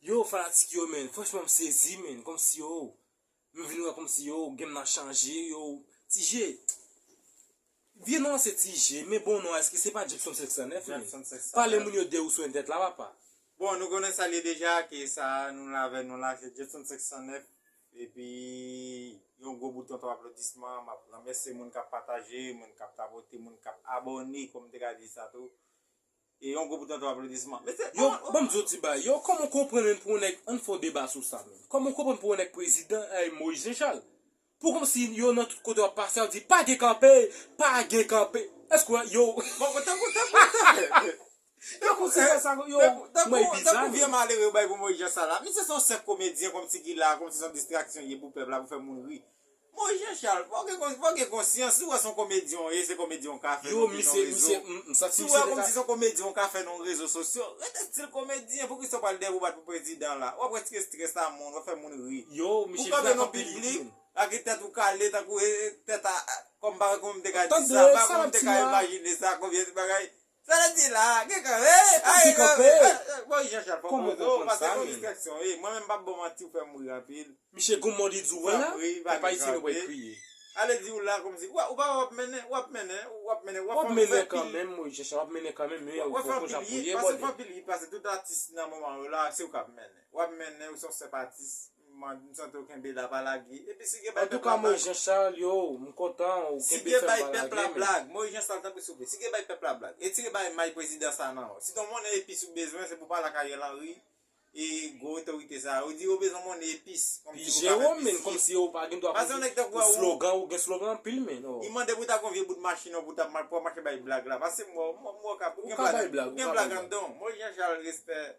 Yow fanatik yo menn franchman m sezi menn komsi yow m vin wè komsi yow game nan chanje yow Tije vye non an se Tije men bon non an eske se pa Jepson 509 menn pale moun yo de ou sou entèt la papa. Bon nou konnen sa l ye deja ke sa nou la avè nou la se Jepson 509 epi yon gwo bouton ton aplodisman m ap remèsye moun k ap pataje moun k ap tapote moun k ap abòne kòm m te ka di sa tou E yon gwo bouton ton aplodisman. Mesye Yo koman banm di yo ti bagay. Yo koman w konprann menm pou yon nèg ann fè yon deba sou sa menm. Koman w konprann pou yon nèg prezidan eh Moyiz Jenchal. Pou kòm si yo nan tout kote w ap pase y ap di pa gen kanpe, pa gen kanpe. Èske w wè yo Bon bon tankou tankou tankou Tankou ti sè sa yo Tankou may bizar tankou vye malere yo bay pou Moyiz Jenchal la. Misye se yon senp komedyen kòm si ki la kòm si se yon distraksyon l ye pou pèp la pou fè moun ri. Bon Jean Charles, fò w gen fò w gen konsyans, si w wè s on komedyen w ye, se komedyen w ka fè Yo nan misye rezo. misye m m santi Si w misye wè te ka kòmsi s on komedyen w ka fè nan rezo sosyo, ret ak stil komedyen, poukisa w pral dèyè pou w bat pou prezidan la? Wap retire strès a moun, wap fè moun ri. Yo Pou w misye kanpe blank nan anpil li di piblik, menm. lage tèt ou kale tankou e e tèt a a kòm bagay kòman m te ka di Tande sa, bagay sa kòman m lap te di ka la. imajine sa, konbyen bagay Sa le di la, gen kan he, a gen kan he, bon Jean Charles fok ou zo, pase kon distraksyon wi, mwen menm pap bon manti ou fem ri anpil, Misye goumon di di wè la, lè pa itilize wè kriye. Ale di ou la komsi ou pa wè wap mennen, wap mennen, wap mennen, wap fè anpil wi, wap fè anpil wi, pase fanpil wi, pase tout atis nan moman yo la se ou kap mennen, wap mennen ou son sep atis. Man m santi w kenbe la pa lage epi si gen bay pèp la blag. Antouka Moise Jean Charles yoww m kontan ou kenbe fèm pa lage men. Si gen bay pèp la blag Moise Jean Charles tanpri souple si gen bay pèp la blag etire bay may prezidan sa nan ou si ton monnen epis ou bezwen se pou pale ak Ariel Henry e gwo otorite sa yo di yo bezwen monnen epis kòm si pou ka fè plis vye pase yon nèg tankou wè ou i mande pou ta gon vye bout machin non pou ta pou wap mache bay blag la pase m wè ou m wè ou ka pou gen blag anndan w Moise Jean Charles respè.